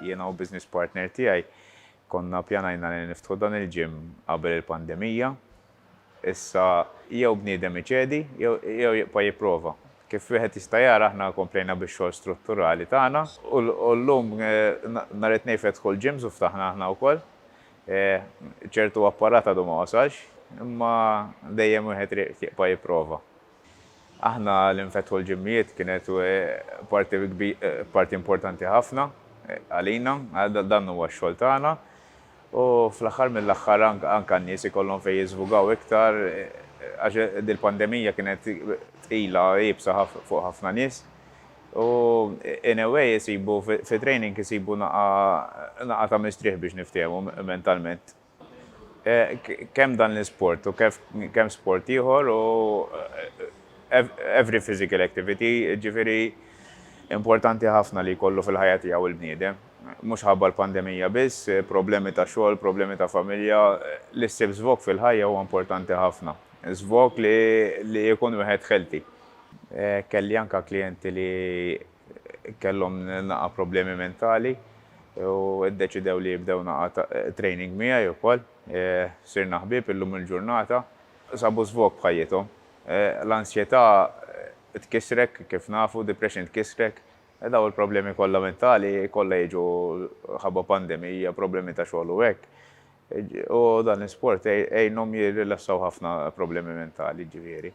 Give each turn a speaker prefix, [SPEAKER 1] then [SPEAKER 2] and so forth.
[SPEAKER 1] Jiena u business partner tiegħi konna ppjanajna li niftħu dan il-gym qabel il-pandemija. Issa jew bniedem iċedi jew jibqa' jipprova. Kif wieħed jista' jara aħna komplejna bix-xogħol strutturali tagħna u llum nhar it-Tnejn fetħu l-gyms u ftaħna aħna wkoll. Ċertu apparat għadu ma wasalx imma dejjem wieħed jriq jibqa' jipprova. Aħna li nfetħu l-ġimmijiet kienet parti importanti ħafna għalina, dan huwa x-xogħol tagħna u fl-aħħar mill-aħħar anke n-nies ikollhom fejn jiżvugaw iktar għax dil-pandemija kienet tqila, iebsa fuq ħafna nies u in a way isibu fi training isibu naqgħa ta' mistrieħ biex niftehmu mentalment. Kemm dan l-isport u kemm sport ieħor u every physical activity, jiġifieri importanti ħafna li jkollu fil-ħajja tiegħu il-bniedem. Mhux ħabba l-pandemija biss, problemi ta' xogħol, problemi ta' familja, li ssib żvog fil-ħajja huwa importanti ħafna. Żvog li jkun wieħed healthy. Kelli anke klijenti li Kellhom naqra problemi mentali u ddeċidew li jibdew naqra training miegħi wkoll. Sirna ħbieb illum il-ġurnata. Sabu żvog f'ħajjithom. L-ansjetà tkissrek kif nafu, depression tkissrek. Dawn il-problemi kollha mentali kollha jiġu ħabba pandemija, problemi ta' xogħol u hekk. U dan l-isport għinhom jirrilassaw ħafna problemi mentali, jiġifieri.